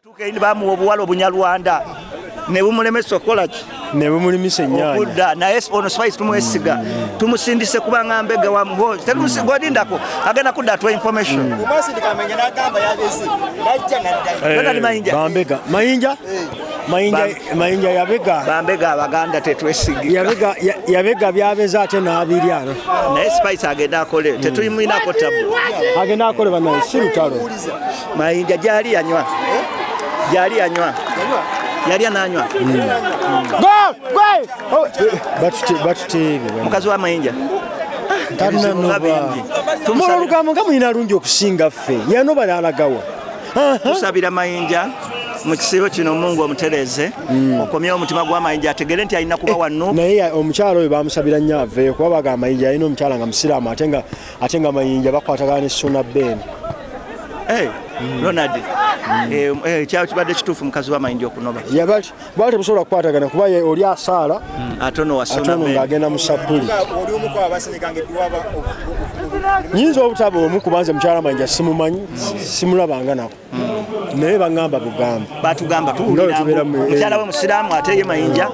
Tukeini bamuwa obuwala obunyarwanda ne bumulemesa okukola ki ne bumulimisa ennyanya okudda naye ono spice tumwesiga tumusindise kuba nga mbega wa muhozi tetumusigwadindako agenda kudda twa information mm. eh, bambega mayinja eh. mayinja mayinja yabega bambega abaganda tetwesiga yabega yabega byabeza ate nabirya naye spice agenda akole mm. tetuyimuinako tabu agenda akole banaye si lutalo Mayinja gyali yanywa gyali yanywa yali ananywa batuteebe mukazi wa Mayinja mulolugambo nga mulina lungi okusinga ffe yanoba yalagawa tusabira Mayinja mu kisiibo kino mungu omutereeze hmm. okomye omutima gwamayinja ategere nti alina kuba eh, wanno naye omukyala oyo bamusabira nnyo aveeyo kuba baga amayinja alina omukyala nga musiraamu ate nga ate nga mayinja bakwatagana ne suna ben hey, mm. ronald mm. eh, eh, kyakibadde kituufu mukazi wamayinja okunoba yabali bali temusobola kukwatagana kuba oli asaala mm. atono ng'agenda mu sapuli nyinza obutaba omu kubanza mukyala mayinja simumanyi simulabanga nako naye bangamba bugamba batugamba tuwuliramukyala we musiraamu ate ye mayinja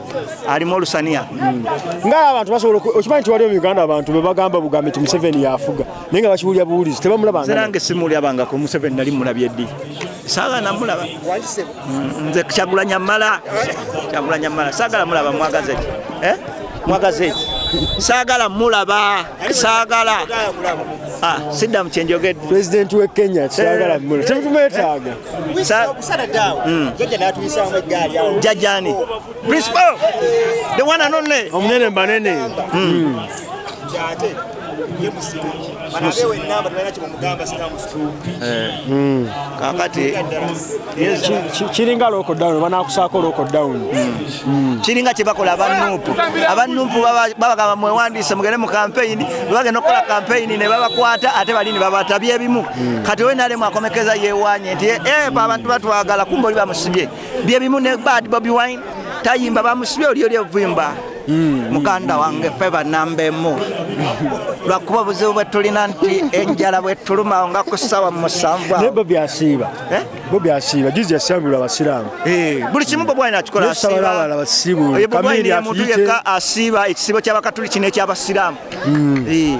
alimu olusaniya hmm. nga abantu basobola okimanyi nti waliwo mu uganda abantu bebagamba bugamba nti museveni yafuga naye nga bakiwulira buwulizi tebamulabanange simulyabangako museveni nali mulabye ddi saagala namulaba hmm, nze kyagulanya mala kyagulanya mala saagala mulaba mwagaze eh? mwagaze saagala mulaba saagala ah, siddamu kyenjogedde pulezidenti we kenya saagala eh. temutumwetaaga hmm. jajani principal the one and only omunene mbanene hmm. hmm. Eh. Hmm. kakati kiringa lockdown banakusaako lockdown hmm. Hmm. kiringa kyebakola abanupu abanupu babagamba mwewandiise mugende mu kampeyini bebagenda okukola kampeyini nebabakwata ate balini babatabye ebimu kati owe nalemu akomekeza yewanye nti epa eh, abantu batwagala kumba oli bamusibye bye bimu ne bad bobi wine tayimba bamusibye oli oli evuyimba mm. muganda wange fe banamba emu lwakuba obuzibu bwetulina nti enjala bwetulumawo nga ku ssawa musanvu eh? bobi asiiba bobi asiiba juzi yasabula abasiraamu eh, buli kimu bobi wine akikola asiiba asiiba ekisibo kyabakatuli kino ekyabasiraamu mm. eh.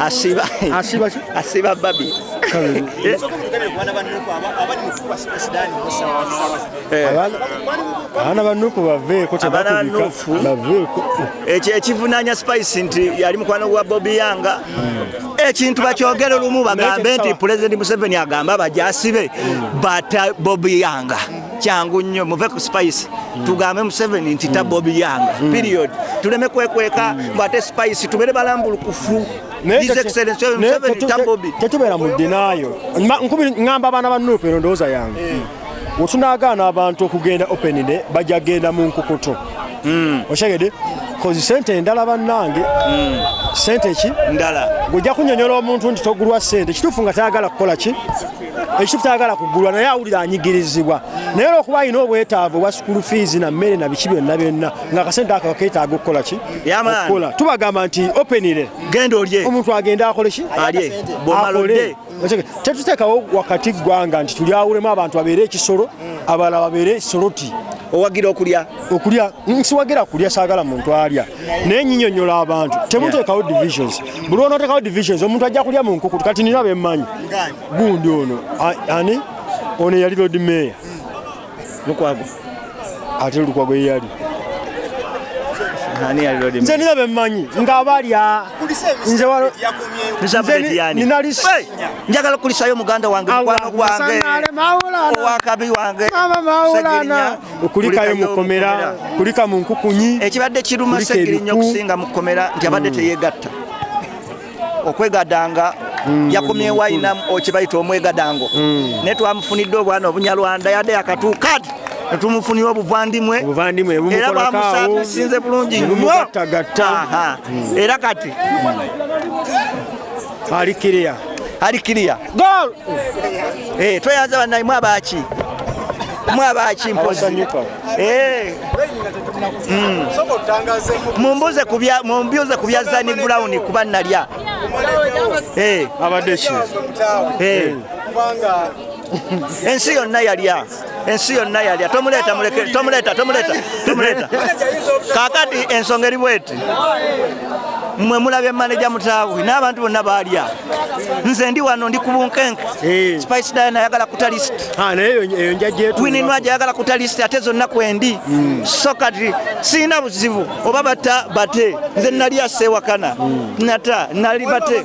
asiba asiba asiba babi abaana banuku baveeko tebakubibaveeko ekyo ekivunanya spice nti yali mukwano gwa bobi yanga ekintu bakyogere lumu bagambe nti pulezidenti museveni agamba bajasibe bata bobi yanga kyangu nnyo muve ku spice tugambe museveni nti tabba obiyanga mm. period tuleme kwekweka mm. mbu ate spice tubere balambulukufu tetubeera mu dinaayo ngamba abaana ba nuupu eno ndowooza yange eh. wetunagaana abantu okugenda openide bajja genda mu nkukutu mm. okyegede kozi sente endala bannange hmm. sente ki ndala gweojja kunyonyola omuntu nti togulwa sente kituufu nga tayagala kukola ki ekitufu tayagala kugulwa naye awulira anyigirizibwa naye olwokuba alina obwetaavu obwa sukulu fiizi na mmere na biki byonna byonna nga akasente ako keetaaga okukola ki okukola tubagamba nti openire genda olye omuntu agende akole ki alye akole tetuteekawo wakati ggwanga nti tulyawulemu abantu babeere ekisolo abalala babeere soloti owagira okulya okulya nsiwagira kulya saagala muntu alya naye nyinyonyola abantu temuteekawo divisions buli onoteekawo divisions omuntu ajja kulya mu nkukutu kati nina bemmanyi gundi ono ani ono eyali lodi meeya lukwago ate lukwago yeyali nze nina bemmanyi nga balya njagala okukulisayo muganda wange mukwano gwange owakabi wange kulikayo mu kkomera kulika mu nkukunyi ekibadde kiruma segiri nnyo okusinga mu kkomera nti abadde mm. teyegatta okwegadanga mm. yakomye wayina okibayita omwegadango mm. naye twamufunidde obwana obunyarwanda yadde yakatuukadi netumufunira obuvandimwe era bamusasinze bulungi nyo era kati Ali clear. Ali clear. Goal. Eh, tweyanza banayi mwabaki. Mwabaki mpozi. Eh. Mm. Mumbuze kubya mumbuze kubya Zani Brown kuba nalya. Eh, abadde ki? Eh. Ensi yonna yalya. ensi yonna yalya tomuleeta muleke tomuleeta tomuleeta tomuleeta kakati ensonga eri bweti mwe mulabye maneja mutaawe n'abantu bonna baalya nze ndi wano ndi ku bunkenke eh. spice diana ayagala kuta list ah, wininwa gyayagala kuta list ate zonna kwendi hmm. so kati sirina buzibu oba bata bate nze nali asewakana hmm. nata nali bate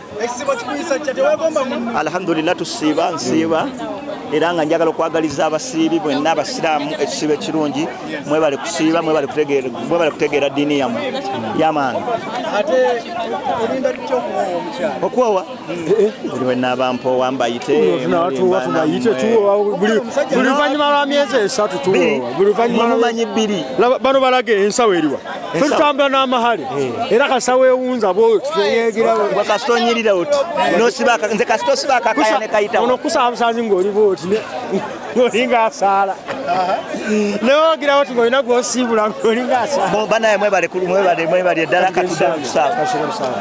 Alhamdulillah tusiiba nsiiba era nga njagala okwagaliza abasiibi bwenna abasiraamu ekisiibo ekirungi mwebale kusiiba mwebale kutegeera ddiini yamu yamaani okwowa buli wenaaba mpoowa mbayite buli luvannyuma lwa myezi esatu tuwowa buli luvannyuma lwa myezi bbiri bano balage ensawo eriwa tutambula n'amahale eh. era kasita wewunza kasita onyirira oti nze kasita osiba akakaya ne kayitawo ono kusaba busanzi ng'oli bwoti ng'olinga asaala newogirawo ti ng'olina gwosiibula ng'olinga asaala banaye mwebale mwebale mwebale eddala katudakusaba